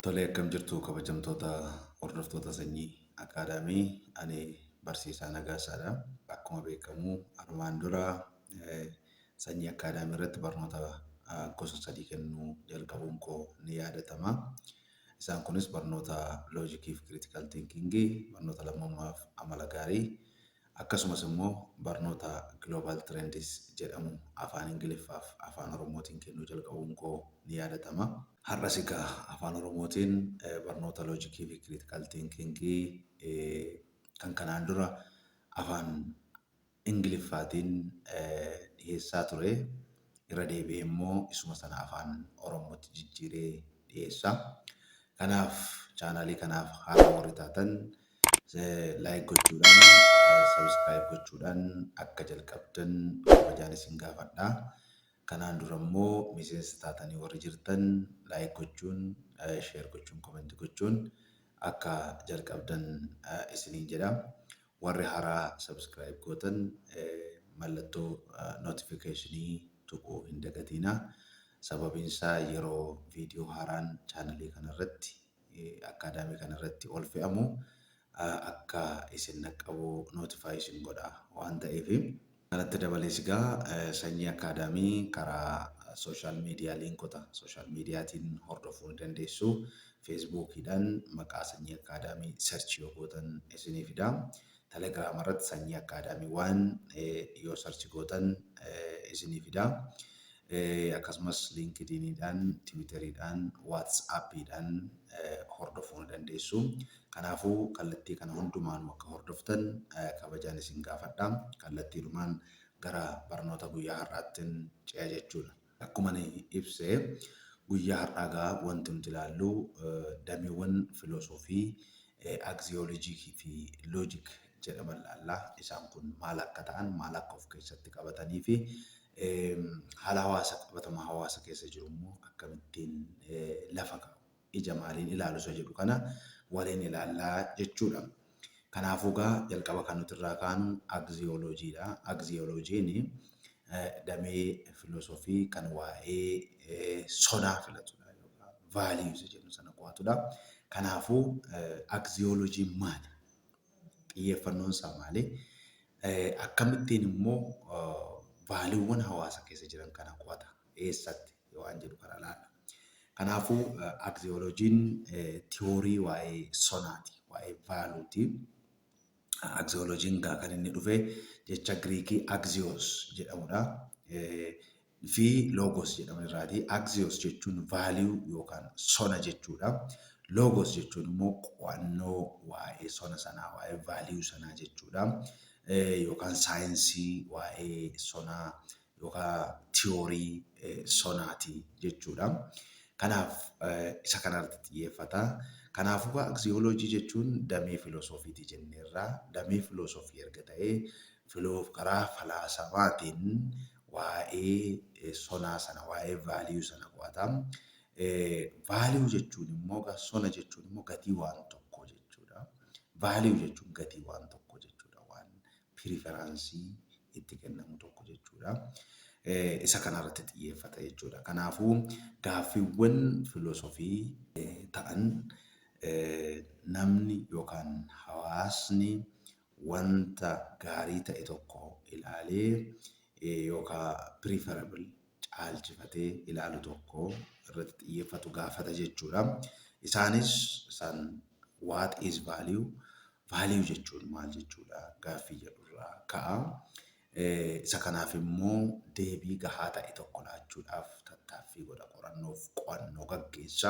Tolee akkam jirtu kabajamtoota hordoftoota sanyii akaadaamii ani barsiisaa Nagaasaadha. Akkuma beekamu armaan dura eh, Sanyii Academy irratti barnoota gosa sadii kennuu jalqabuun koo ni yaadatama. Isaan kunis barnoota loojikii fi critical thinking, barnoota lammummaa fi amala gaarii, akkasumas immoo barnoota Global Trends jedhamu afaan Ingiliffaa fi afaan Oromootiin kennuu jalqabuun koo ni yaadatama. Har'as egaa afaan Oromootiin barnoota loojikii fi critical thinking kan kanaan dura afaan Ingiliffaatiin dhiheessaa ture irra deebi'ee immoo isuma sana Afaan Oromootti jijjiiree dhiheessa. Kanaaf chaanaalii kanaaf haaraa warri taatan like gochuudhaan subscribe gochuudhaan akka jalqabdan kabajaan isin gaafadha. Kanaan dura immoo miseensa taatanii warri jirtan like gochuun share gochuun comment gochuun akka jalqabdan isiniin jedha. Warri haraa subscribe gootan mallattoo notification tuquu hin dagatiina sababiin isaa yeroo video haaraan channel kana irratti academy kana irratti ol fe'amu akka isin dhaqqabu notify isin godha waan ta'eef. Kanatti dabalees egaa Sanyii Akaadaamii karaa Social Media liinkota social mediatiin hordofuu ni dandeessu. Feesbuukiidhaan maqaa Sanyii Akaadaamii search yoo gootan isinii fida. Telegram irratti Sanyii Akaadaamii waan yoo search gootan isinii fida. Akkasumas LinkedIniidhaan, Twitteriidhaan, WhatsAppiidhaan hordofuu ni dandeessu. Kanaafuu kallattii kana hundumaanuu akka hordoftan kabajaan isin gaafadha. Kallattiidhumaan gara barnoota guyyaa har'aattin ce'a jechuudha. Akkuman ibse guyyaa har'aa egaa wanti nuti ilaallu dameewwan filoosoofii aksiyoolojiikii fi loojik jedhaman ilaalla. Isaan kun maal akka ta'an, maal akka of keessatti qabatanii fi haala hawaasa qabatama hawaasa keessa jiru immoo akkamittiin lafa kaa'u. ija maaliin ilaalu isa jedhu kana waliin ilaalla jechuudha. Kanaafuu egaa jalqaba kan nuti irraa kaanu agziyooloojiidha. Agziyooloojiin damee filoosofii kan waa'ee sonaa filatudha yookaan vaaliyuu isa jedhu sana qo'atudha. Kanaafuu agziyooloojiin maali? Xiyyeeffannoon isaa maali? Akkamittiin immoo vaaliiwwan hawaasa keessa jiran kana qo'ata? Eessatti? waan jedhu kana ilaalla. Kanaafuu, aksiyooloojiin tiyoorii waa'ee sonaati, waa'ee vaaluuti. Aksiyooloojiin egaa kan inni dhufe jecha Giriikii aksiyoos jedhamudha. fi loogos jedhaman irraati. Aksiyoos jechuun vaaliyuu yookaan sona jechuudha. Loogos jechuun immoo qo'annoo waa'ee sona sanaa, waa'ee vaaliyuu sanaa jechuudha. Yookaan saayinsii waa'ee sonaa yookaan tiyoorii sonaati jechuudha. Kanaaf isa kanarratti xiyyeeffata. Kanaafuu egaa aksiyooloojii jechuun damee filoosofiiti jenneerra. Damee filoosofii erga ta'ee filoo karaa falaasamaatiin waa'ee sonaa sana waa'ee value sana qo'ata. Value jechuun immoo egaa sona jechuun immoo gatii waan tokkoo jechuudha. Value jechuun gatii waan tokkoo jechuudha. Waan piriferaansii itti kennamu tokko jechuudha. Isa kanarratti xiyyeeffata jechuudha. Kanaafuu gaaffiiwwan filosofii ta'an namni yookaan hawaasni wanta gaarii ta'e tokko ilaalee yookaan preferable caalchifatee ilaalu tokko irratti xiyyeeffatu gaafata jechuudha. Isaanis isaan what is value, value jechuun maal jechuudha gaaffii jedhurraa ka'a. Isa kanaaf immoo deebii gahaa ta'e tokko laachuudhaaf tattaaffii godha qorannoof qo'annoo gaggeessa.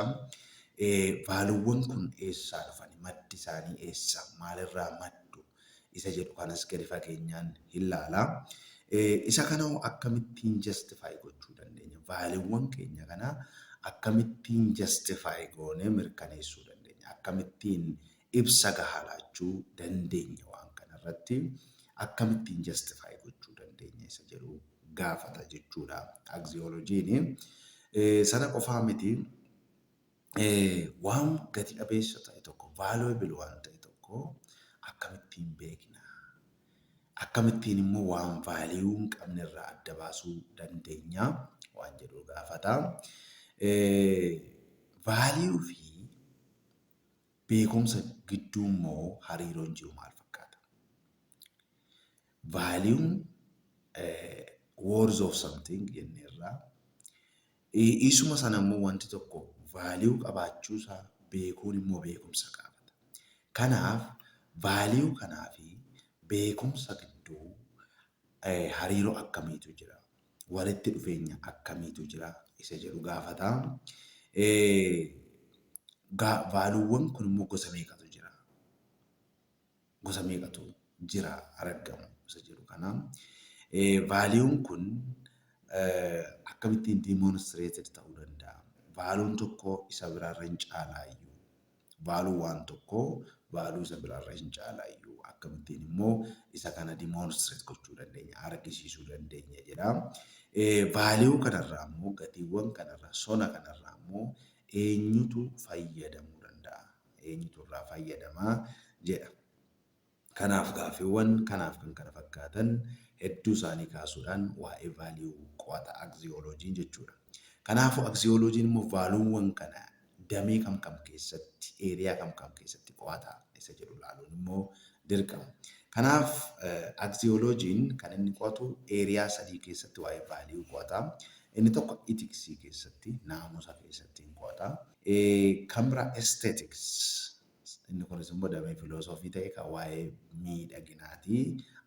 Vaaluuwwan kun eessaa dhufani? Maddi isaanii eessa? Maalirraa maddu? isa jedhu kanas gadi fageenyaan hin laala. Isa kanahoo akkamittiin justify gochuu dandeenya? Vaaliiwwan keenya kana akkamittiin justify goonee mirkaneessuu dandeenya? Akkamittiin ibsa gahaa laachuu dandeenya waan kanarratti? Akkamittiin justify gochuu dandeenya isa jedhu gaafata jechuudha axiologiin. Sana qofaa miti. Waan gati dhabeessa ta'e tokko, valuable waan ta'e tokko akkamittiin beekna? Akkamittiin immoo waan value hin qabne irraa adda baasuu dandeenya? waan jedhu gaafata. Value fi beekumsa gidduu immoo hariiroon jiru maal fakkaata? Value'n worth of something jenneerra. Isuma sana immoo wanti tokko value qabaachuu isaa beekuun immoo beekumsa gaafata. Kanaaf value kanaa fi beekumsa gidduu hariiroo akkamiitu jira? Walitti dhufeenya akkamiitu jira? Isa jedhu gaafata. Vaaluuwwan kun immoo gosa meeqatu jira? gosa meeqatu jira araggamu isa jedhu kana vaaliyuun kun akkamittiin demonstrated ta'uu danda'a vaaluun tokko isa biraarra hin caalaayyuu vaaluu waan tokko vaaluu isa biraarra hin caalaayyuu akkamittiin immoo isa kana demonstrate gochuu dandeenya argisiisuu dandeenya jedha vaaliyuu kanarraa immoo gatiiwwan kanarraa sona kanarraa immoo eenyutu fayyadamuu danda'a eenyutu irraa fayyadama jedha. Kanaaf gaaffiwwan kanaaf kan kana fakkaatan hedduu isaanii kaasuudhaan waa'ee value qo'ata axiology jechuudha. Kanaafuu axiology immoo vaaluuwwan kana damee kam kam keessatti, area kam kam keessatti qo'ata isa jedhu ilaaluun immoo dirqama. Kanaaf axiology'n kan inni qo'atu area sadii keessatti waa'ee value qo'ata. Inni tokko ethics keessatti, naamusa keessatti hin qo'ata. Camera Aesthetics, Inni kunis immoo damee filoosofii ta'ee kan waa'ee miidhaginaati.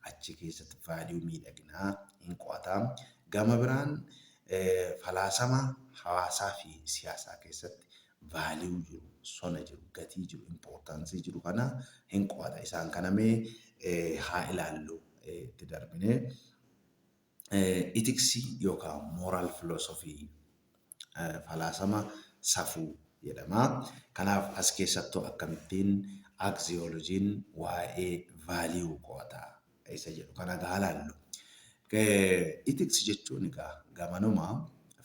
Achi keessatti value miidhaginaa in qo'ata. Gama biraan falaasama hawaasaa fi siyaasaa keessatti value jiru, sona jiru, gatii jiru, importance jiru kana in qo'ata. Isaan kana mee haa ilaallu itti darbinee. Itiksii yookaan moral philosophy, falaasama safuu, jedhama. Kanaaf as keessattuu akkamittiin axiology'n waa'ee value qo'ata isa jedhu kana egaa haa ilaallu. Ethics jechuun egaa gamanuma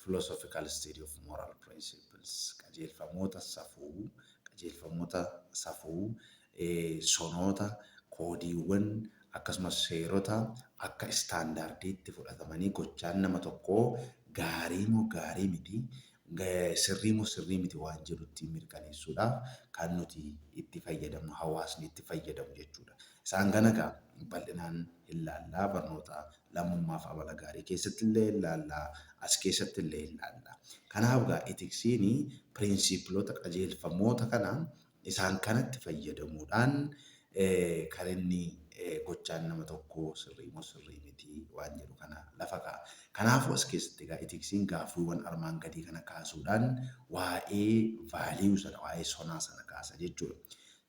philosophical study of moral principles, qajeelfamoota safuu, qajeelfamoota safuu, sonoota, koodiiwwan, akkasumas seerota akka istaandaardiitti fudhatamanii gochaan nama tokkoo gaarii moo gaarii miti, sirrii moo sirrii miti waan jedhu ittiin mirkaneessuudhaaf kan nuti itti fayyadamnu, hawaasni itti fayyadamu jechuudha. Isaan kana egaa bal'inaan hin laalla. Barnoota lammummaa fi amala gaarii keessatti illee hin laalla. As keessatti illee hin laalla. Kanaaf egaa itiksiin piriinsiipiloota, qajeelfamoota kana Isaan kanatti fayyadamuudhaan kan inni gochaan nama tokkoo sirrii moo sirrii miti waan jedhu kana lafa kaa'a. Kanaafuu as keessatti egaa itiksiin gaaffiiwwan armaan gadii kana kaasuudhaan waa'ee value sana, waa'ee sonaa sana kaasa jechuudha.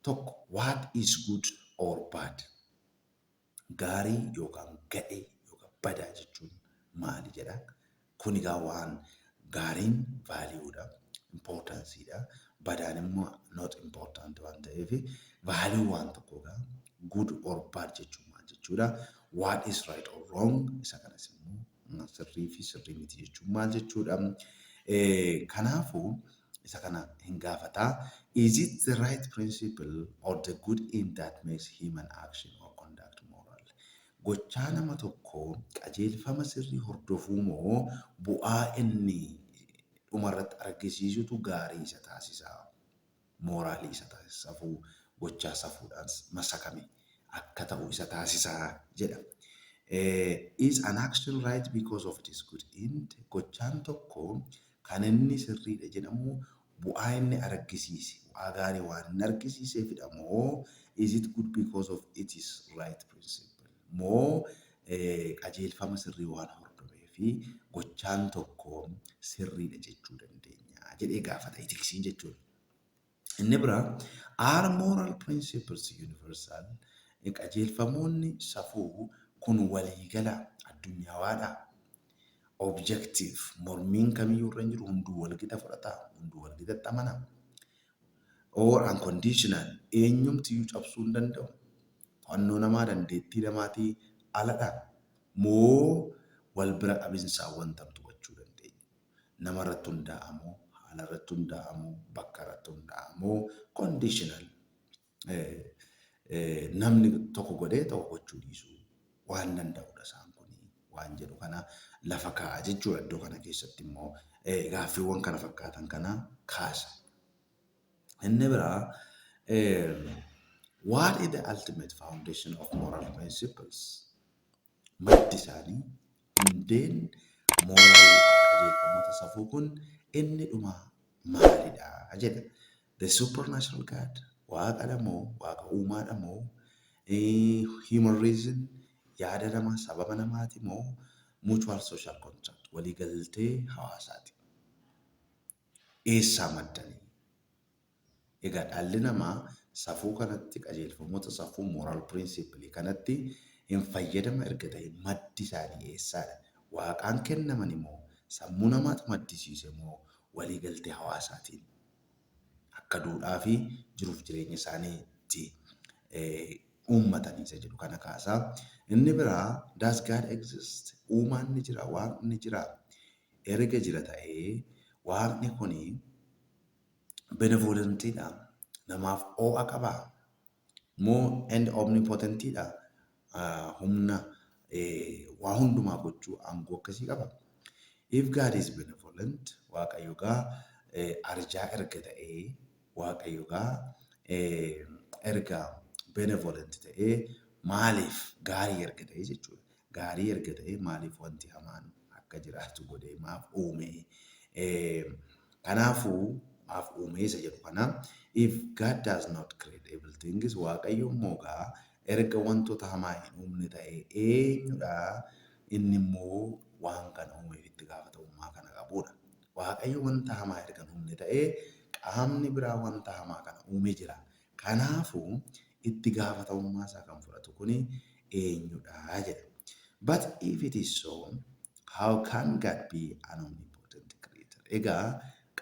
1, What is good or bad? Gaarii yookaan gadhee yookaan badaa jechuun maali jedha. Kun egaa waan gaariin value dha, importance dha. Badaan immoo not important waan ta'eef value waan tokkoo egaa good or bad jechuun maal jechuudha. What is right or wrong isa kanas immoo sirrii fi sirrii miti jechuun maal jechuudha? Kanaafuu isa kana hin gaafata. Is it the right principle or the good end that makes human action or conduct moral? Gochaa nama tokko qajeelfama sirrii hordofuu moo bu'aa inni dhumarratti argisiisutu gaarii isa taasisa? mooraalii isa taasisa, safuu gochaa safuudhaan masakame akka ta'u isa taasisa jedha. Is an action right because of its good end? Gochaan tokko kan inni sirriidha jedhamu bu'aa inni argisiise, bu'aa gaarii waan inni argisiiseefidha moo is it good because of its right principle? moo qajeelfama sirrii waan hordobeef gochaan tokko sirriidha jechuu dandeenyaa? jedhee gaafata itiksiin jechuun. Inni biraa Are moral principles universal? Qajeelfamoonni safuu kun waliigalaa, addunyaawaadhaa? Objective, mormiin kamiyyuu irra hin jiru, hunduu walgita fudhataa? Hunduu walgitatti amanaa? Or unconditional, eenyumtiyyuu cabsuu hin danda'u? To'annoo namaa dandeettii namaatii ala dha moo wal bira qabinsaan wanta nuti gochuu dandeenyu? Nama irratti hundaa'a moo, haala irratti hundaa'a moo, bakka irratti hundaa'a moo, conditional, namni tokko godhee tokko gochuu dhiisuu waan danda'u dha isaan kun waan jedhu kana lafa kaa'a jechuu dha. Iddoo kana keessatti immoo gaaffiiwwan kana fakkaatan kana kaasa. Inni biraa what is the ultimate foundation of moral principles? Maddi isaanii hundeen moral qajeelfamoota safuu kun inni dhumaa maalidha jedha. The supernatural God waaqa dhamoo waaqa uumaa dhamoo human reason yaada namaa sababa namaati moo mutual social contract waliigaltee hawaasaati. eessaa maddani? Egaa dhalli namaa safuu kanatti qajeelfamoota safuu, moral principle, kanatti hin fayyadama erga ta'ee maddi isaanii eessaadha? Waaqaan kennamani moo sammuu namaatu maddisiise moo walii galtee hawaasaatiin akka duudhaa fi jiruuf jireenya isaaniitti uummatani isa jedhu kana kaasa. Inni biraa does God exist? Uumaan ni jira? Waaqni ni jiraa? erga jira ta'ee Waaqni kun benevolent dha, namaaf oo'a qaba, moo and omnipotent dha, humna waa hundumaa gochuu aangoo akkasii qaba? If God is benevolent, Waaqayyo egaa arjaa erga ta'ee Waaqayyo egaa erga benevolent ta'ee maaliif gaarii erga ta'ee jechuudha. Gaarii erga ta'ee maaliif wanti hamaan akka jiraatu godhee maaf uumee? Kanaafuu maaf uumee isa jedhu kana if God does not create evil things Waaqayyo immoo egaa erga wantoota hamaa hin uumne ta'ee eenyudha inni immoo waan kana uumeef itti gaafatamummaa kana qabuudha. Waaqayyo wanta hamaa erga hin uumne ta'ee, qaamni biraa wanta hamaa kana uume jira. Kanaafuu, itti gaafatamummaa isaa kan fudhatu kun eenyu dha? jedha. But if it is so, how can God be an omnipotent creator? Egaa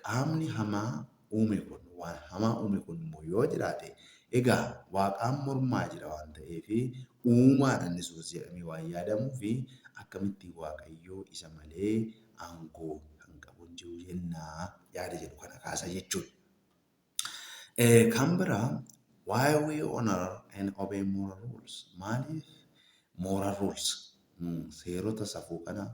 qaamni hamaa uume kun, waan hamaa uume kun immoo yoo jiraate, egaa Waaqaan mormaa jira waan ta'eef, uumaadha inni sunis jedhamee waan yaadamuuf, akkamittiin Waaqayyo isa malee aangoo kan qabu hin jiru jenna yaada jedhu kana kaasa jechuudha. Kan biraa why we honor and obey moral rules maaliif moral rules Nu seerota safuu kanaaf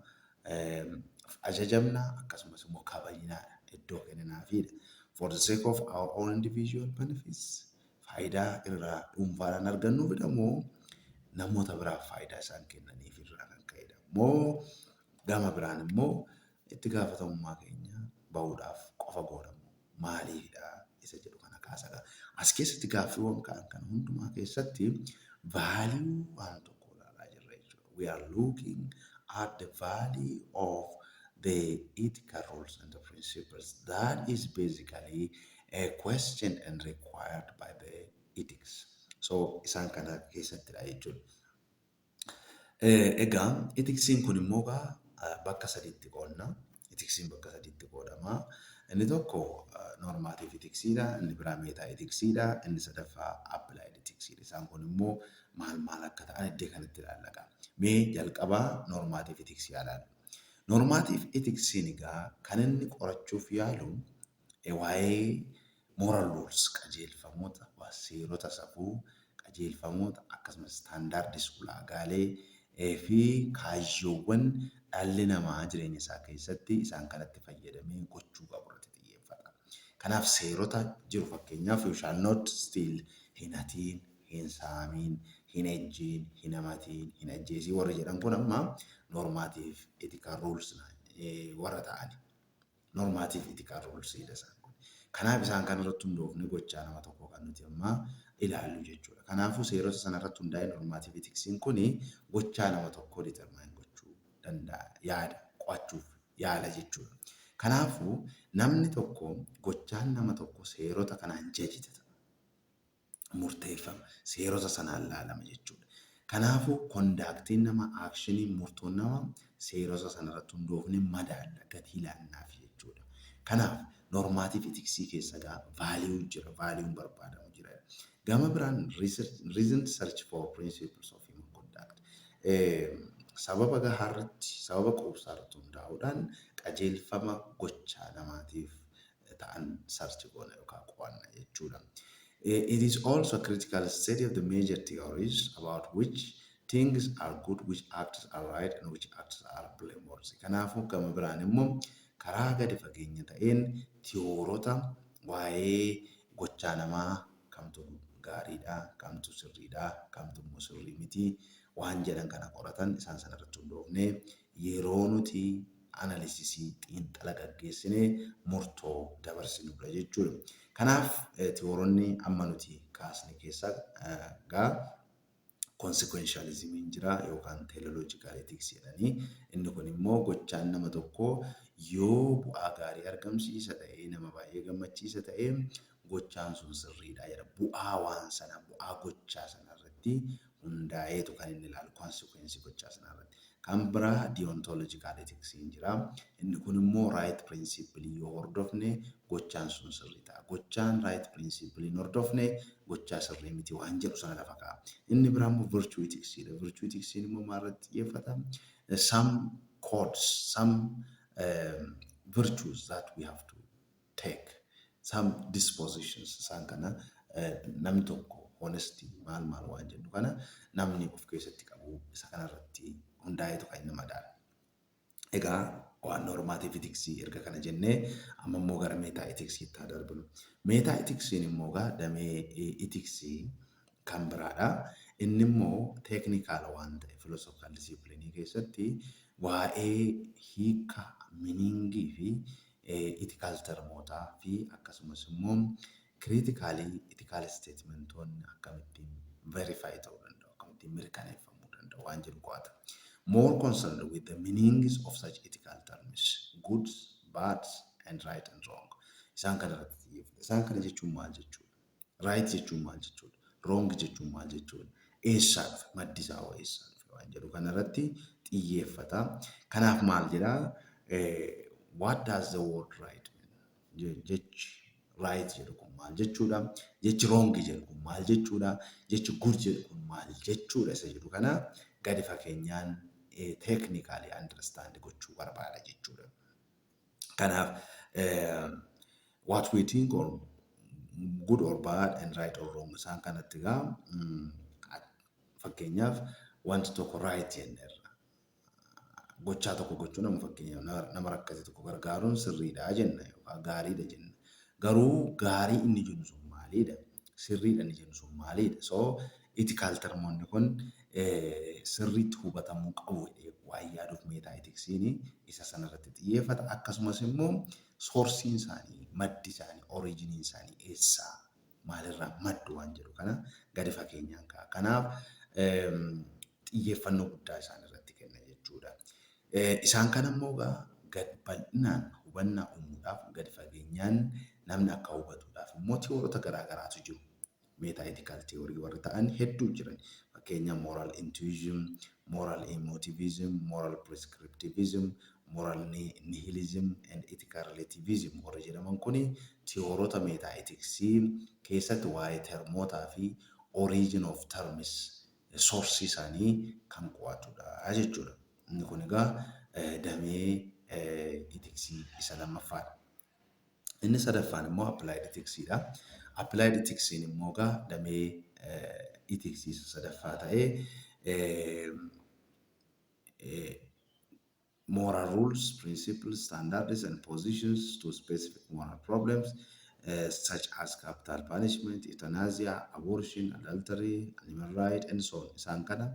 ajajamna, akkasumas immoo kabajna dha, iddoo kenninaafii dha. For the sake of our own individual benefits, faayidaa irraa dhuunfaadhaan argannuuf dha moo namoota biraaf faayidaa isaan kennaniif irraa kan ka'e dha? Moo gama biraan immoo itti gaafatamummaa keenya bahuudhaaf qofa goona moo? maaliifidha isa jedhu kana kaasadha. As keessatti gaaffiiwwan ka'an kana hundumaa keessatti value waan tokko ilaalaa jirra jechuudha. We are looking at the value of the ethical rules and the principles that is basically a question and required by the ethics. So isaan kana keessattidha jechuudha. Egaa itiksiin kun immoo egaa bakka sadiitti qoodna. Itiksiin bakka sadiitti qoodama. Inni tokko normaatiif itiksiidha, inni biraa meetaa itiksiidha, inni sadaffaa appilaayid itiksiidha. Isaan kun immoo maal maal akka ta'an iddee kanatti ilaalla egaa. Mee jalqabaa normaatiif itiksii haa ilaallu. Normaatiif itiksiin egaa kan inni qorachuuf yaalu e Waa'ee moral rules, qajeelfamoota, seerota safuu, qajeelfamoota, akkasumas standards, ulaagaalee, fi kaayyoowwan dhalli namaa jireenya isaa keessatti isaan kanatti fayyadamee gochuu qabu irratti xiyyeeffata. Kanaaf seerota jiru fakkeenyaaf you shall not steal, hin hatiin, hin saamiin, hin ejjiin, hin hamatiin, hin ajjeesiin warri jedhan kun amma normative ethical rules warra ta'ani. Normative ethical rules jedha isaan kun. Kanaaf isaan kana irratti hundoofne gochaa nama tokkoo kan nuti amma ilaallu jechuudha. Kanaafuu seerota sana irratti hundaa'ee normative ethics'n kun gochaa nama tokkoo determine gochuu danda'a, yaada, qo'achuuf yaala jechuudha. Kanaafuu namni tokko gochaan nama tokko seerota kanaan judge ta'a. murteeffama seerota sanaan laalama jechuudha. Kanaafuu, kondaaktiin nama, aakshiniin, murtoon nama seerota sanarratti hundoofne madaalla, gatii laannaaf jechuudha. Kanaaf, normative ethics keessa egaa value jira, value barbaadamu jira. Gama biraan reasoned search for principles of human conduct sababa gahaarratti, sababa quubsaarratti hundaa'uudhaan qajeelfama gochaa namaatiif ta'an search goona yookaan qo'anna jechuudha. It is also a critical study of the major theories about which things are good, which acts are right and which acts are blameworthy. Kanaafuu gama biraan immoo karaa gadi fageenya ta'een tiyoorota waa'ee gochaa namaa kamtu gaariidha, kamtu sirriidha, kamtu immoo sirrii miti waan jedhan kana qoratan isaan sana irratti hundoofnee yeroo nuti analisisii, xiinxala gaggeessine murtoo dabarsinudha jechuudha. Kanaaf tiworonni amma nuti kaasne keessaa gaa konsikwenshaalizimiin jira yookaan teeloloojikaal etiiksii jedhanii inni kun immoo gochaan nama tokkoo yoo bu'aa gaarii argamsiisa ta'ee nama baay'ee gammachiisa ta'ee gochaan sun sirriidha jedha. Bu'aa waan sanaa, bu'aa gochaa sanaa irratti hundaa'eetu kan inni ilaalu, consequence gochaa sanaa irratti. Kan biraa deontological ethics in jira. Inni kun immoo right principle yoo hordofne gochaan sun sirrii ta'a. Gochaan right principle hin hordofne gochaa sirrii miti waan jedhu sana lafa kaa'a. Inni biraa immoo virtue ethics dha. Virtue ethics in immoo maal irratti xiyyeeffata? Some codes, some virtues that we have to. take some dispositions isaan kana namni tokko honesty maal maal waan jedhu kana namni of keessatti qabu isa kanarratti hundaa'eetu kan inni madaalu. Egaa waan normative ethics erga kana jennee amma immoo gara meetaa ethics itti haa darbinu. Meetaa ethics immoo egaa damee ethics kan biraadha. Inni immoo teeknikaala waan ta'e filosofikaal disiplinii keessatti waa'ee hiika miniingii fi Itiikaal termootaa fi akkasumas immoo kiriitikaalii itiikaal isteetimentoonni akkamittiin verify ta'uu danda'u, akkamittiin mirkaneeffamuu danda'u waan jedhu qo'ata. More concerned with the meanings of such ethical terms, goods, bads, and right and wrong. Isaan kana irratti xiyyeeffata. Isaan kana jechuun maal jechuudha? Right jechuun maal jechuudha? Wrong jechuun maal jechuudha? Eessaa dhufe? Maddi isaa hoo eessaa dhufe? Waan jedhu kanarratti xiyyeeffata. Kanaaf maal jedha? What does the word right mean? Jechi right jedhu kun maal jechuudha? Jechi wrong jedhu kun maal jechuudha? Jechi good jedhu kun maal jechuudha? Isa jedhu kana gadi fageenyaan teeknikaalii understand gochuu barbaada jechuudha. Kanaaf what we think or good or bad and right or wrong isaan kanatti gaa fakkeenyaaf wanti tokko right jenneerra. Gochaa tokko gochuun amma fakkeenyaaf nama rakkate tokko gargaaruun sirriidha jenna yookaan gaariidha jenna. Garuu gaarii inni jennu sun maaliidha? Sirriidha inni jennu sun maaliidha? So Ethical termonni kun sirriitti hubatamuu qabu jedhee waan yaaduuf metaethicsn isa sana irratti xiyyeeffata. Akkasumas immoo source'n isaanii, maddi isaanii, origin'n isaanii eessa, maalirraa maddu waan jedhu kana gadi fageenyaan kaa'a. Kanaaf xiyyeeffannoo guddaa isaan irratti kenna jechuudha. Isaan kana immoo egaa gad bal'inaan hubannaa uumuudhaaf gadi fageenyaan namni akka hubatuudhaaf immoo tiyoorota garaa garaatu jiru. metaethical theory warri ta'an hedduu jiran. Fakkeenya moral intuition, moral emotivism, moral prescriptivism, moral nihilism and ethical relativism warri jedhaman kun tiyoorota metaetiksii keessatti waa'ee termootaa fi origin of terms, source isaanii kan qo'atudha jechuudha. Inni kun egaa damee itiksii isa lammaffaadha. Inni sadaffaan immoo appilaayid itiksiidha. Appilaayid itiksiin immoo egaa damee itiksii isa sadaffaa ta'ee moral rules, principles, standards and positions to specific moral problems uh, such as capital punishment, euthanasia, abortion, adultery, animal right and so on. Isaan kana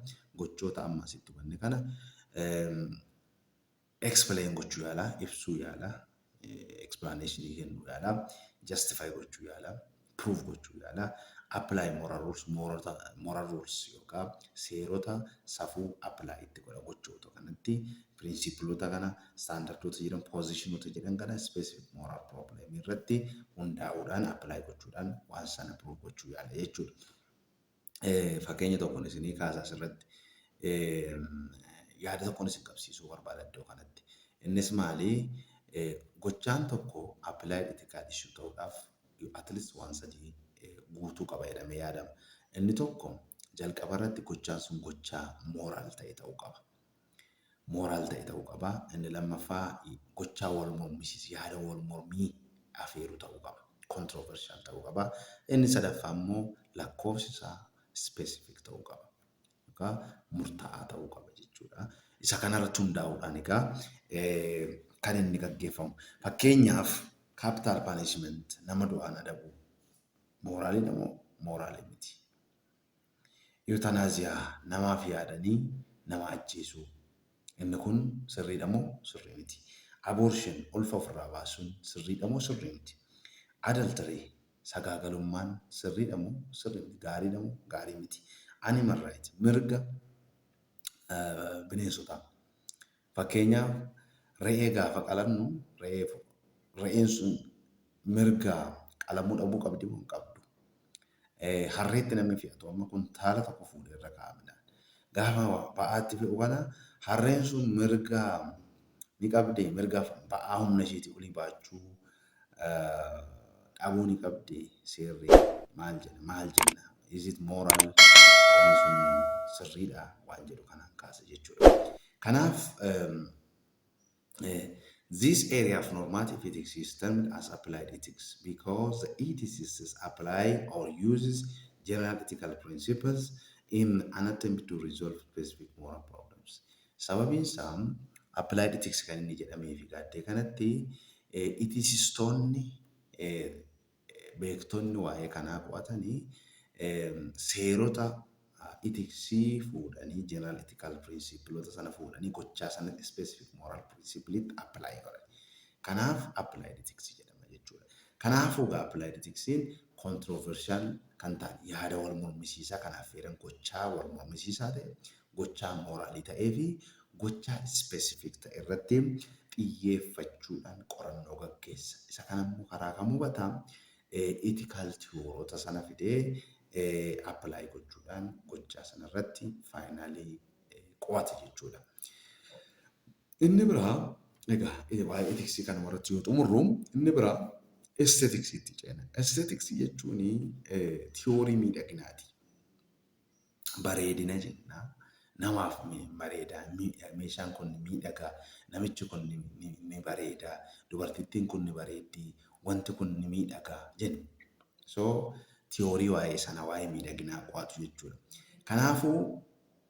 gochoota amma asitti hubanne kana um, explain gochuu yaalaa, ibsuu yaalaa, explanation kennuu yaalaa, justify gochuu yaalaa, prove gochuu yaalaa, apply moral rules, moorota, moral rules yookaan seerota safuu apply itti godha gochuu otoo kanatti pirinsipilota kana, standardoota jedhan, positionota jedhan kana specific moral problem irratti hundaa'uudhaan apply gochuudhaan waan sana prove gochuu yaala jechuudha. fakkeenya tokkon isinii kaasa asirratti. Yaada tokkon isin qabsiisuu barbaada iddoo kanatti. Innis maali? Gochaan tokko applied ethical issue ta'uudhaaf at least waan sadii guutuu qaba jedhamee yaadama. Inni tokko jalqabarratti gochaan sun gochaa moral ta'e ta'uu qaba. moral ta'e ta'uu qaba. Inni lammaffaa gochaa wal mormisiisu, yaada wal mormii afeeru ta'uu qaba. Controversial ta'uu qaba. Inni sadaffaa immoo lakkoofsi isaa specific ta'uu qaba. Egaa murtaa'aa ta'uu qaba jechuudha. Isa kanarratti hundaa'uudhaan egaa kan inni gaggeeffamu. Fakkeenyaaf capital punishment nama du'aan adabuu mooraaliidha moo mooraalii miti? Euthanasia, Namaaf yaadanii nama ajjeesuu. Inni kun sirriidha moo sirrii miti? Abortion, Ulfa ofirraa baasuun sirriidha moo sirrii miti? Adultery, Sagaagalummaan sirriidha moo sirrii miti? Gaariidha moo gaarii miti? Animal right, Mirga bineensotaa. Fakkeenyaaf, re'ee gaafa qalannu re'ee re'een sun mirga qalamuu dhabuu qabdi moo hin qabdu? Harreetti namni fe'atu amma kuntaala tokko fuudhee irra kaa'a midhaan. Gaafa ba'aa itti fe'u kana harreen sun mirga ni qabdee? Mirga ba'aa humna isheetii olii baachuu dhabuu ni qabdee? Seerri maal jedha? Maal jenna? Is it moral? Waan sun sirriidha waan jedhu kanaan kaasa jechuudha. Kanaaf This area of normative ethics is termed as applied ethics because the ethicists apply or uses general ethical principles in an attempt to resolve specific moral problems. Sababiin isaa applied ethics kan inni jedhameefi gaaddee kanatti ethicistoonni beektonni waa'ee kanaa qo'atani seerota itiksii fuudhanii, general ethical principle'ota sana fuudhanii gochaa sanatti specific moral principle'tti apply godhani. Kanaaf applied ethics jedhama jechuudha. Kanaafuu egaa applied ethicsiin controversial kan ta'an, yaada wal mormisiisaa kan affeeran, gochaa wal mormisiisaa ta'e gochaa mooraalii ta'ee fi gochaa specific ta'e irratti xiyyeeffachuudhaan qorannoo gaggeessa. Isa kana immoo karaa kam hubata? Ethical theorota sana fidee apply gochuudhaan gochaa sana irratti finally qo'ata jechuudha. Inni biraa egaa waa'ee ethics kanuma irratti yoo xumurru inni biraa aesthetics itti ceena. Aesthetics jechuun theory miidhaginaati. bareedina jenna. Namaaf bareeda. Meeshaan kun miidhaga. Namichi kun ni bareeda. Dubartittiin kun ni bareeddi. Wanti kun ni miidhaga jenna. So tiyoorii waa'ee sana waa'ee miidhaginaa qo'atu jechuudha. Kanaafuu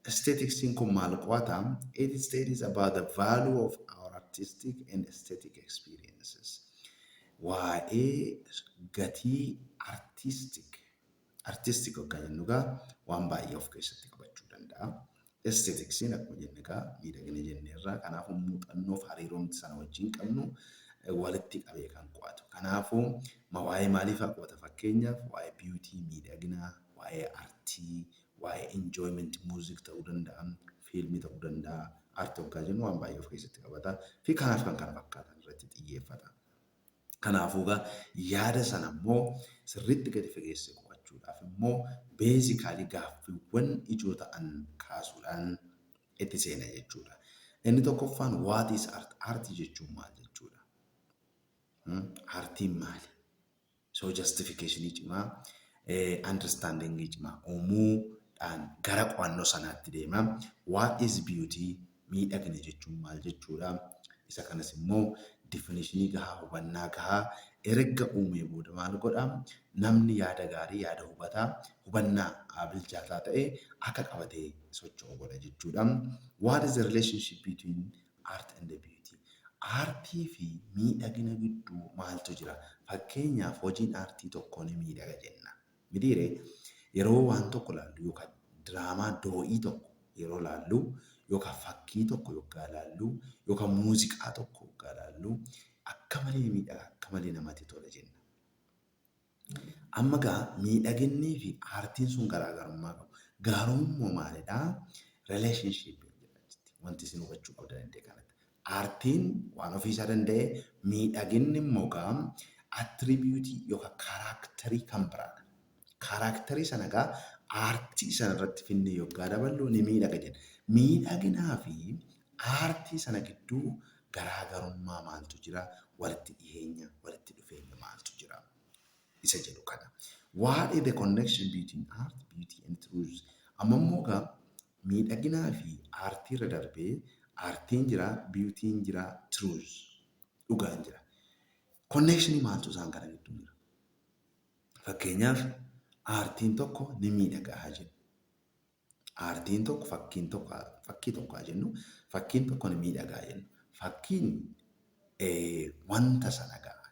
aesthetics'n kun maal qo'ata? It studies about the value of our artistic and aesthetic experiences. Waa'ee gatii artistic Artisti goggaa jennu egaa waan baay'ee of keessatti qabachuu danda'a. Esteetiksiin akkuma jenne egaa miidhagina jenneerra. Kanaafuu muuxannoof hariiroon sana wajjin qabnu walitti qabee kan qo'atu. Kanaafuu ma waa'ee maaliifaa qo'ata? Fakkeenyaaf waa'ee biyuutii, miidhaginaa, waa'ee artii, waa'ee enjoyment music ta'uu danda'a, fiilmii ta'uu danda'a. Art hoggaa jennu waan baay'ee of keessatti qabata fi kanaaf kan kana fakkaatan irratti xiyyeeffata. Kanaafuu egaa yaada sana immoo sirriitti gadi fageessee qo'achuudhaaf immoo basically gaaffiiwwan ijoo ta'an kaasuudhaan itti seena jechuudha. Inni tokkoffaan what is art? Aartii jechuun maal jechuudha? Hmm? Aartiin maali? So justification cimaa eh, understanding cimaa uumuudhaan gara qo'annoo sanaatti deema. What is beauty? Miidhagina jechuun maal jechuudha? Isa kanas immoo definition gahaa, hubannaa gahaa erga uumee booda maal godha? Namni yaada gaarii, yaada hubataa, hubannaa bilchaataa ta'e akka qabatee socho'u godha jechuudha. What is the relationship between art and beauty? Aartii fi miidhagina gidduu maaltu jira? Fakkeenyaaf hojiin aartii tokko ni miidhaga jenna. Mitii ree? Yeroo waan tokko laallu yookaan diraamaa doo'ii tokko yeroo laallu yookaan fakkii tokko yoggaa laallu yookaan muuziqaa tokko yoggaa laallu akka malee miidhaga akka malee namati tola jenna. Amma egaa miidhaginnii fi aartiin sun garaagarummaa qabu. Gaarummoo maalidhaa? Relationship jedha jetti. Wanti isin hubachuu qabdan iddee kanatti. Aartiin waan ofii isaa danda'e, miidhaginni immogaa attribute yookaan character kan biraadha. Character sana egaa aartii sana irratti finnee yoggaa daballu ni miidhaga jenna. Miidhaginaa fi aartii sana gidduu garaa garummaa maaltu jira? Walitti dhiheenya, walitti dhufeenya maaltu jira? Isa jedhu kana. Waa'ee the connection between art, beauty and truth. Amma immoo egaa Miidhaginaa fi aartii irra darbee aartiin jira beauty'n jira truth dhugaan jira. Connection maaltu isaan kana gidduu jira? Fakkeenyaaf aartiin tokko ni miidhaga haa jennu. Aartiin tokko fakkiin tokko fakkii tokko haa jennu fakkiin tokko ni miidhaga haa jennu. Fakkiin wanta sana ga'a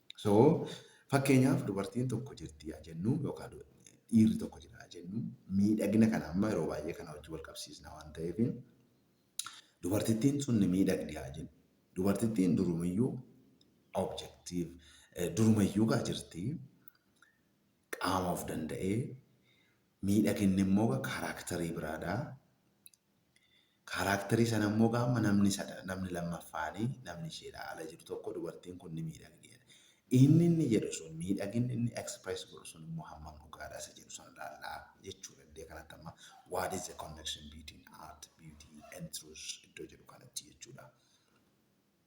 So fakkeenyaaf dubartiin tokko jirti yaa jennu yookaan dhiirri tokko jira yaa jennu miidhagina kana amma yeroo baay'ee kana wajjin wal qabsiisna waan ta'eef dubartittiin sun ni miidhagdi haa jennu. Dubartittiin durumayyuu objektiif durumayyuu gaa jirti qaama of danda'ee miidhaginni immoo karaaktarii biraadha. Kaaraakterii sana immoo egaa amma namni sada, namni lammaffaani, namni isheedhaa ala jiru tokko dubartiin kun ni miidhagdi jedha. Inni inni jedhu sun, miidhaginni inni express godhu sun immoo hammam dhugaadha isa jedhu sana ilaallaa jechuudha. Iddee kanatti amma what is the connection between art, beauty and truth iddoo jedhu kanatti jechuudha.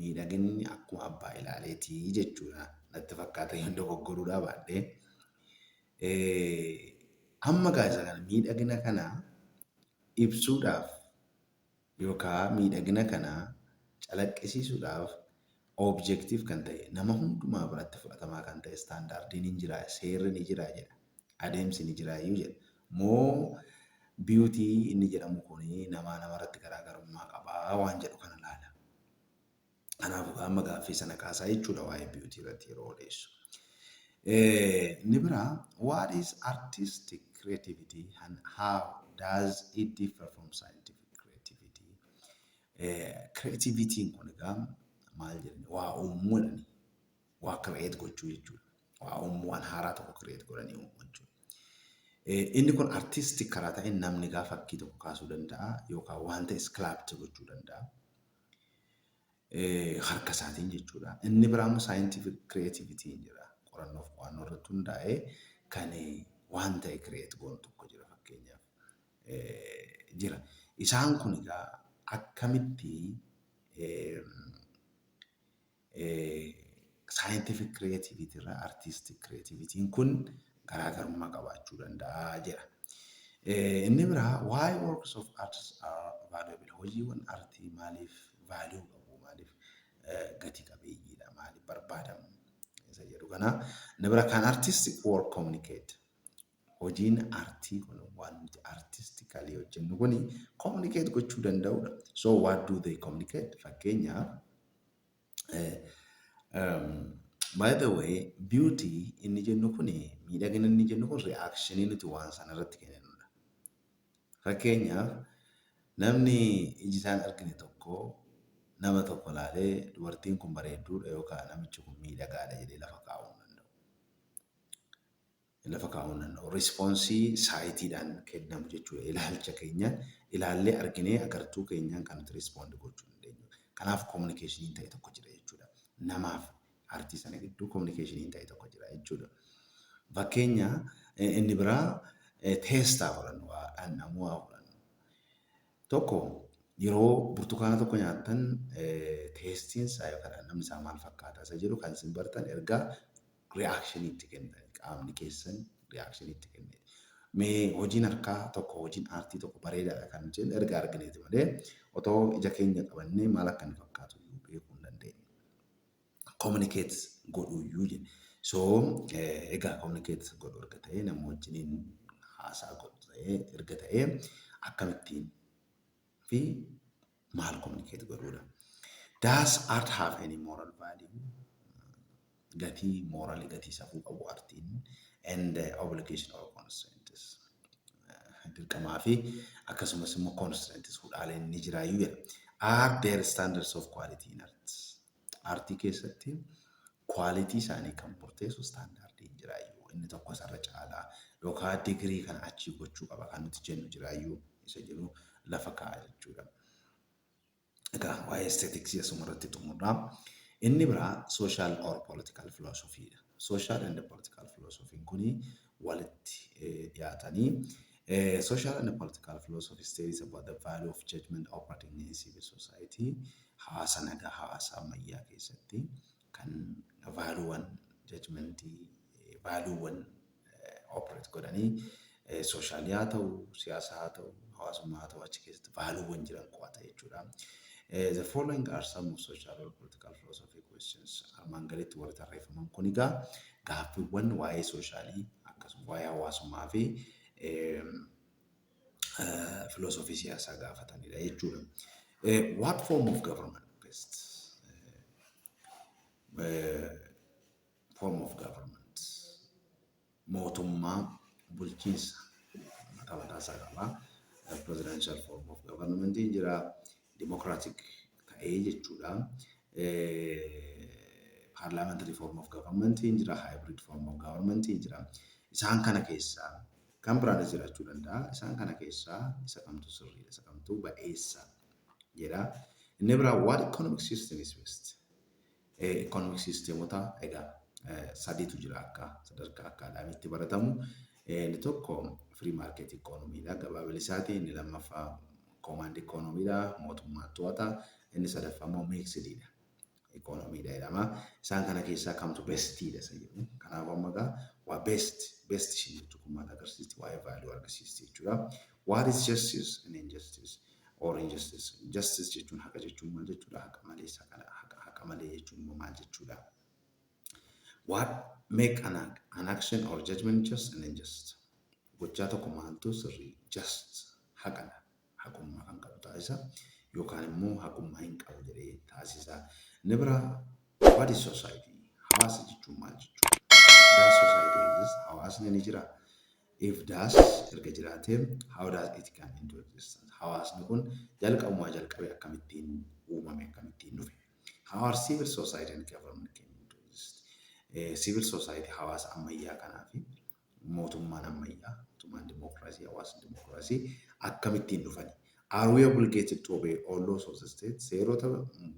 Miidhaginni akkuma abbaa ilaaleeti jechuudha natti fakkaata yoon dogoggoruudhaa baadhe. Amma egaa isa kana miidhagina kana ibsuudhaaf yookaa miidhagina kana calaqqisiisuudhaaf objective kan ta'e nama hundumaa biratti fudhatamaa kan ta'e standardiin hin jira seerri ni jira jedha. adeemsi ni jiraayyuu jedha. Moo beauty inni jedhamu kun namaa namarratti garaagarummaa qabaa waan jedhu kana laala. Kanaafuu gaa amma gaaffii sana kaasaa jechuudha waa'ee beauty irratti yeroo odeessu. Inni biraa what is artistic creativity and how does it differ from scientific creativity? Creativitiin kun egaa maal jenne waa uumuu jedhani. waa create gochuu jechuudha. Waa uumuu waan haaraa tokko create godhanii uumuu jechuudha. Inni kun artistic karaa ta'een namni gaa fakkii tokko kaasuu danda'a yookaan waan ta'e sculpture gochuu danda'a. Harka isaatiin jechuudha. Inni biraa immoo scientific creativity jedha. Qorannoof qo'annoo irratti hundaa'ee kan waan ta'e create goonu tokko jira fakkeenyaaf jira. Isaan kun egaa akkamitti Scientific creativity irraa artistic creativity kun garaagarummaa qabaachuu danda'a jedha. Inni biraa why works of arts are valuable hojiiwwan artii maaliif value qabu maaliif gati qabeeyyiidha maaliif barbaadamu isa jedhu kana. Inni biraa kan artistic work communicate Hojiin artii kun waan nuti artistically hojjennu kun communicate gochuu danda'udha. So what do they communicate? Fakkeenyaaf by the way beauty inni jennu kun miidhagina inni jennu kun reactionii nuti waan sana irratti kenninu. Fakkeenyaaf namni iji isaan argine tokko nama tokko laalee dubartiin kun bareedduudha yookaan namichi kun miidhagaadha jedhee lafa kaa'uu hin danda'u. lafa kaa'uu hin danda'u. Respoonsii saayitiidhaan kennamu jechuudha. Ilaalcha keenyaan ilaallee arginee agartuu keenyaan kan nuti respond gochuu dandeenyu. Kanaaf communication ta'e tokko jira jechuudha. Namaaf artii sana gidduu communication ta'e tokko jira jechuudha. Fakkeenya inni biraa teestaa fudhannu waa dhandhamuu haa fudhannu. Tokko yeroo burtukaana tokko nyaattan teestiin isaa yookaan dhandhamni isaa maal fakkaata isa jedhu kan isin bartan erga reaction itti kennitani qaamni keessan reaction itti kennee mee hojiin harkaa tokko hojiin aartii tokko bareedaadha kan jennu erga argineeti malee otoo ija keenya qabannee maal akka inni fakkaatu iyyuu beekuu hin dandeenyu communicate godhuu iyyuu jenna so egaa communicate godhu erga ta'ee nama wajjiniin haasaa godhu ta'ee erga ta'ee akkamittiin fi maal communicate godhuudha. Does art have any moral value? Gatii moorali gatii safuu qabu artiin and uh, obligation or constraints uh, dirqamaa fi akkasumas immoo constraints hudhaaleen ni jiraayyuu jedha. Are there standards of quality in arts? Aartii keessatti quality isaanii kan murteessu standardiin jiraayyuu inni tokko isarra caalaa yookaan degree kana achii gochuu qaba kan nuti jennu jiraayyuu isa jedhu lafa kaa'a jechuudha. Egaa waa'ee aesthetics asuma irratti xumurra. Inni biraa social or political philosophy dha. Social and political philosophy kuni walitti dhiyaatanii Social and Political Philosophy Studies about the Value of Judgment Operating in Civil Society hawaasa nagaa hawaasa ammayyaa keessatti kan vaaluuwwan jajmentii vaaluuwwan operate godhanii sooshaal haa ta'u siyaasa haa ta'u hawaasummaa haa ta'u achi keessatti vaaluuwwan jiran qo'ata jechuudha. The following are some of social or political philosophy questions armaan gaditti warri tarreeffaman kun egaa Gaaffiwwan waa'ee sooshaalii akkasuma waa'ee hawaasummaa fi filoosofii siyaasaa gaafatanidha jechuudha. What form of government best? Form of government mootummaa bulchiinsa mataa mataa isaa qaba. Presidential form of government jira. Democratic ta'ee jechuudha. Parliamentary form of government hin jira, hybrid form of government hin jira. Isaan kana keessaa kan biraanis jiraachuu danda'a. Isaan kana keessaa isa kamtu sirriidha, isa kamtu ba'eessa jedha. Inni biraa what economic system is best? Economic sisteemota egaa sadiitu jira akka sadarkaa akkaadaamiitti baratamu. Inni tokko free market economy dha gabaa bilisaati. Inni lammaffaa command economy dha mootummaan to'ata. Inni sadaffaa immoo mixed dha. Economy dha jedhama. Isaan kana keessaa kamtu best dha isa jedhu. Kanaaf amma egaa waa best best ishiin jettu kun maal agarsiisti? Waa'ee value argisiisti jechuudha. What is justice and injustice? or injustice. Justice jechuun haqa jechuun maal jechuudha? Haqa malee saqala haqa haqa malee jechuun immoo maal jechuudha? What make an, ac- an action or judgment just and unjust? Gochaa tokko maaltu sirrii just haqadha haqummaa kan qabu taasisa yookaan immoo haqummaa hin qabu jedhee taasisa. Inni biraa what is society? Hawaasa jechuun maal jechuudha? Does society exist? Hawaasni ni jira. If das erga jiraatee, how does it come into existence? Hawaasni kun jalqabumaa jalqabee akkamittiin uumame, akkamittiin dhufe? How are civil society and government came into exist? Civil society hawaasa ammayyaa kanaa fi mootummaan ammayyaa, mootummaan dimookiraasii, hawaasni dimookiraasii akkamittiin dhufani? Are we obligated to obey all laws of the state? Seerota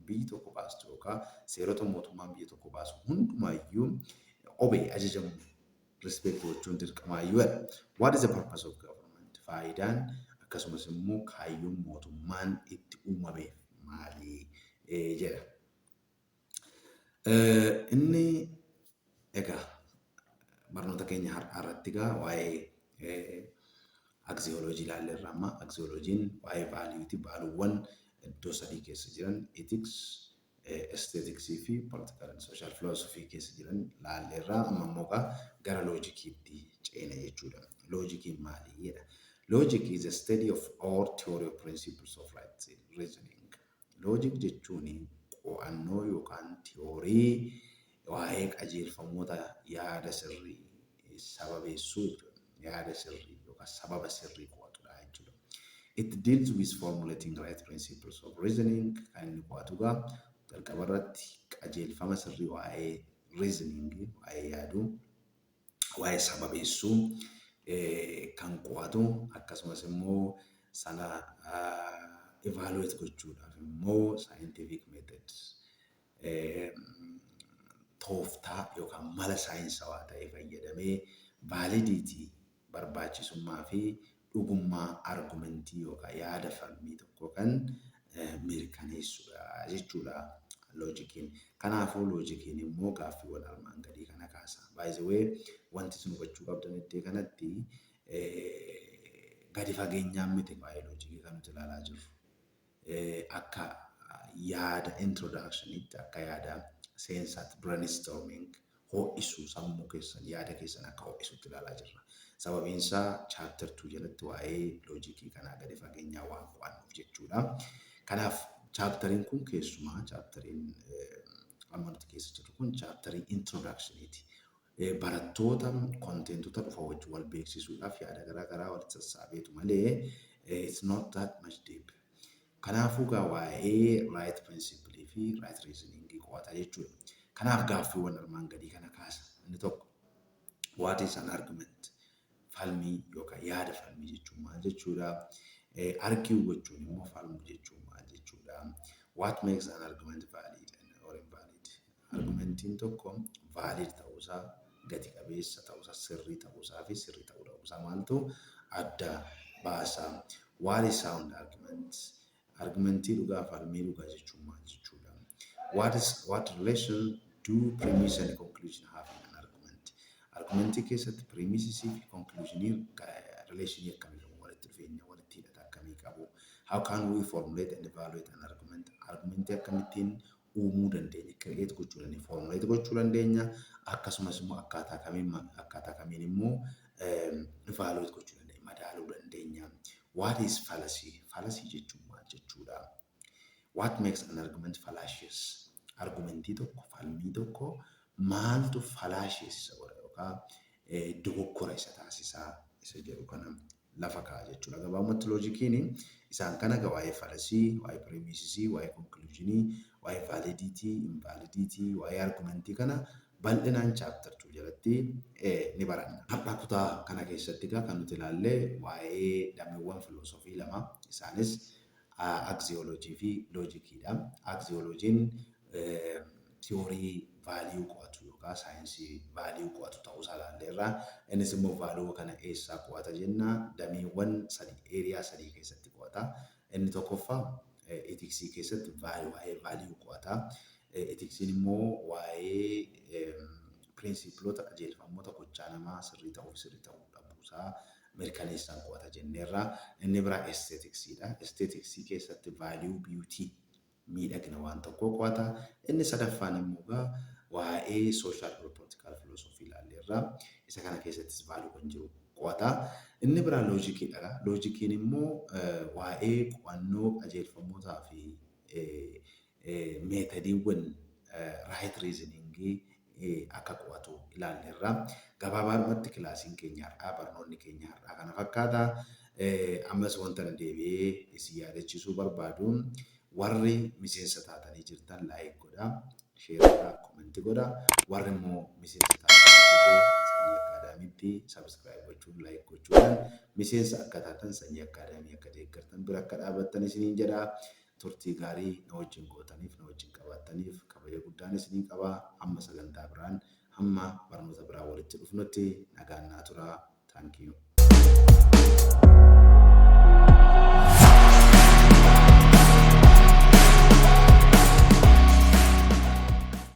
biyyi tokko baastu yookaan seerota mootummaan biyya tokko baasu hundumaayyuu obey ajajamuu respect gochuun dirqamaayyuu jedha. What is the purpose of government? Faayidaan akkasumas immoo kaayyoon mootummaan itti uumameef maali? jedha. Inni egaa barnoota keenya har'aa irratti egaa waa'ee aksiyooloojii ilaalle irra amma aksiyooloojiin waa'ee vaaliyuuti vaaluuwwan iddoo sadii keessa jiran etiks Aesthetics fi Political and Social Philosophy keessa jiran laalleerra. Amma immoo egaa gara loojikiitti ceena jechuu dha. Loojikiin maali? jedha. Logic is a study of or theory of principles of right reasoning. Logic jechuun qo'annoo yookaan tiyoorii Waa'ee qajeelfamoota yaada sirrii sababeessuu jechuudha. Yaada sirrii yookaan sababa sirrii qo'atudha jechuudha. It deals with formulating right principles of reasoning kan inni qo'atu egaa jalqaba irratti qajeelfama sirrii waa'ee reasoning waa'ee yaaduu waa'ee sababeessuu kan qo'atu akkasumas immoo sana evaluate gochuudhaaf immoo scientific methods tooftaa yookaan mala saayinsawaa ta'e fayyadamee vaalidiitii, barbaachisummaa fi dhugummaa argumentii yookaan yaada falmii tokkoo kan mirkaneessudha jechuudha loojikiin. Kanaafuu loojikiin immoo gaaffiiwwan armaan gadii kana kaasa. By the way, wanti isin hubachuu qabdan iddoo kanatti gadi fageenyaan miti baayoloojikii kan nuti ilaalaa jirru. Akka yaada introduction tti, akka yaada seensaatti, brainstorming, ho'isuu sammuu keessan, yaada keessan akka ho'isutti ilaalaa jirra. Sababiin isaa chapter two jalatti waa'ee loojikii kanaa gadi fageenyaan waan qo'annuuf jechuudha. Kanaaf chapteriin kun keessumaa chapteriin amma nuti keessa jirru kun chapterii introduction ti. barattoota contentoota dhufa wajji wal beeksisuudhaaf yaada garaa garaa walitti sassaabeetu malee it's not that much deep. Kanaafuu gaa waa'ee right principle fi right reasoning qo'ata jechuudha. Kanaaf gaaffiiwwan armaan gadii kana kaasa. Inni tokko what is an argument? Falmii yookaan yaada falmii jechuun maal jechuudha? Argue gochuun immoo falmuu jechuun maal jechuudha? What makes an argument valid or invalid? Argumentiin tokko valid ta'uusaa, gati qabeessa ta'uusaa, sirrii ta'uusaafi sirrii ta'uu dhabuusaa maaltu adda baasa? What is sound argument? Argumentii dhugaa falmii dhugaa jechuun maal jechuudha? What is what relation do premise and conclusion have in an argument? Argumentii keessatti premisesii fi conclusionii relation akkamii qabu? Walitti dhufeenya, walitti hidhata akkamii qabu? How can we formulate and evaluate an argument? Argumentii akkamittiin uumuu dandeenya, create gochuu dandeenya, formulate gochuu dandeenya, akkasumas immoo akkaataa kamiin ma- akkaataa kamiin immoo em, evaluate gochuu dandeenya, madaaluu dandeenya. What is fallacy? Fallacy jechuun maal jechuudha? What makes an argument fallacious? Argumentii tokko, falmii tokko maaltu fallacious isa godha yookaan eh, dogoggora isa taasisaa isa jedhu kana lafa kaa'a jechuudha. Gabaabumatti loojikiin isaan kana egaa waa'ee falasii, waa'ee pireemiisisii, waa'ee konkiliwuuzhinii, waa'ee vaalidiitii, invaalidiitii, waa'ee argumentii kana bal'inaan chaaptar 2 jalatti ni baranna. Har'a kutaa kana keessatti egaa kan nuti ilaalle waa'ee dameewwan filoosofii lama isaanis Aksiyoolojii fi loojikii dha. Aksiyoolojiin tiyoorii vaaliyuu qo'atu yookaan saayinsii vaaliyuu qo'atu ta'uu isaa ilaalleerra. Innis immoo vaaluu kana eessaa qo'ata jenna? Dameewwan sadii, area sadii keessatti qo'ata. Inni tokkoffaa itiksii keessatti waa'ee vaaliyuu qo'ata. Itiksiin immoo waa'ee piriinsiipiloota, qajeelfamoota gochaa namaa sirrii ta'uu fi sirrii ta'uu dhabuu isaa mirkaneessan qo'ata jenneerra. Inni biraa aesthetics dha. Aesthetics keessatti value beauty, miidhagina waan tokkoo qo'ata. Inni sadaffaan immoo egaa waa'ee social or political philosophy ilaalleerra. Isa kana keessattis value kan jiru qo'ata. Inni biraa logic dha. Logic immoo waa'ee qo'annoo qajeelfamootaa fi meetadiiwwan raayit riiziniingii akka qo'atu ilaalleerra. Gabaabaadhumatti kilaasiin keenya har'aa, barnoonni keenya har'aa kana fakkaata. Ammas wantan deebi'ee isin yaadachiisuu barbaadu warri miseensa taatanii jirtan laayik godhaa, sheer godhaa, komenti godhaa. Warri immoo miseensa taatanii hin jirre Sanyii Akkaadaamiitti sabiskiraayib gochuun, laayik gochuudhaan miseensa akka taatan, Sanyii Akkaadaamii akka deeggartan, bira akka dhaabattan isiniin jedha. Turtii gaarii na wajjin gootaniif, na wajjin qabaattaniif kabaja guddaan isinii qaba. Hamma sagantaa biraan, hamma barnoota biraan walitti dhufnutti nagaan naa turaa. Thank you.